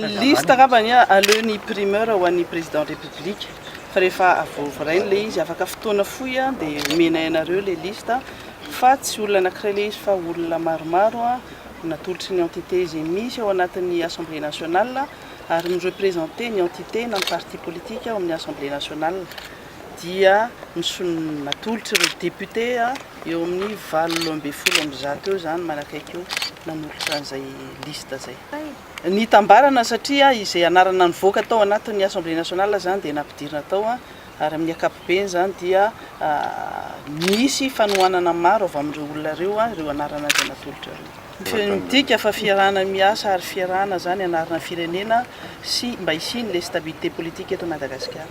Ny liste angamba anie aleo ny primeur ho an'ny président république fa rehefa avoravarainy ilay izy afaka fotoana fohy an dia omenay anareo ilay liste fa tsy olona anankiray ilay izy fa olona maromaro an natolotry ny entité izay misy ao anatin'ny assemblée nationale ary mi-représenter ny entité na ny parti politique ao amin'ny assemblée nationale dia misolo natolotry ireo député an Eo amin'ny valo ambin'ny folo amby zato eo izany manakaiky io nanolotra an'izay liste izay. Nitambarana satria izay anarana nivoaka tao anatin'ny Assemblée nationale izany dia nampidirina tao ary amin'ny ankapobeny izany dia nisy fanohanana maro avy amin'ireo olona ireo ireo anarana izay natolotra ireo. Midika fa fiarahana miasa ary fiarahana izany hanarina ny firenena sy mba hisian' ilay stabilité politique eto Madagasikara.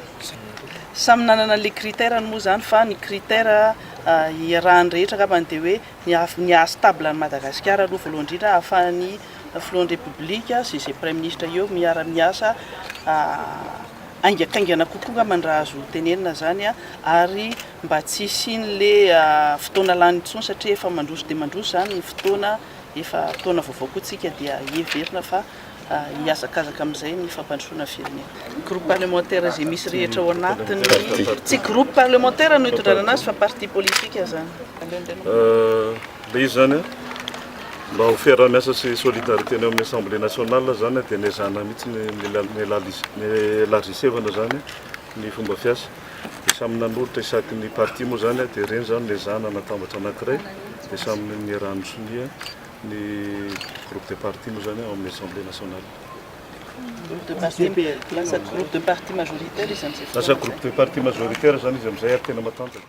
Samy nanana ilay critère-ny moa izany fa ny critère. iarahan'ny rehetra angambany dia hoe ny hahafa- ny haha stable an'i Madagasikara aloha voalohany indrindra hahafahan'ny filohan'ny Repoblika sy izay praiminisitra eo miara-miasa haingakaingana kokoa angambany raha azo tenenina izany an, ary mba tsy hisian'ilay fotoana lany intsony satria efa mandroso dia mandroso izany ny fotoana, efa taona vaovao koa isika dia heverina fa. hihazakazaka amin'izay ny fampandrosoana firenena. Groupe parlementaire izay misy rehetra ao anatiny. Tsy groupe parlementaire no hitondrana anazy fa parti politique izany. Aleo indray no. Ilay izy izany mba ho fiaraha-miasa sy solidarité ny ao amin'ny Assemblée nationale izany dia nezahana mihitsy ny élargissevana izany ny fomba fiasa. Dia samy nanolotra isaky ny parti moa izany dia ireny izany no ezahana anatambatra anankiray dia samy niaraha-nisonia. Ny groupe de parti moa izany ao amin'ny Assemblée nationale. Groupe de parti, lasa groupe de parti majoritaire izy amin'izay fotoana izay. Lasa groupe de parti majoritaire izany izy amin'izay ary tena matanjaka.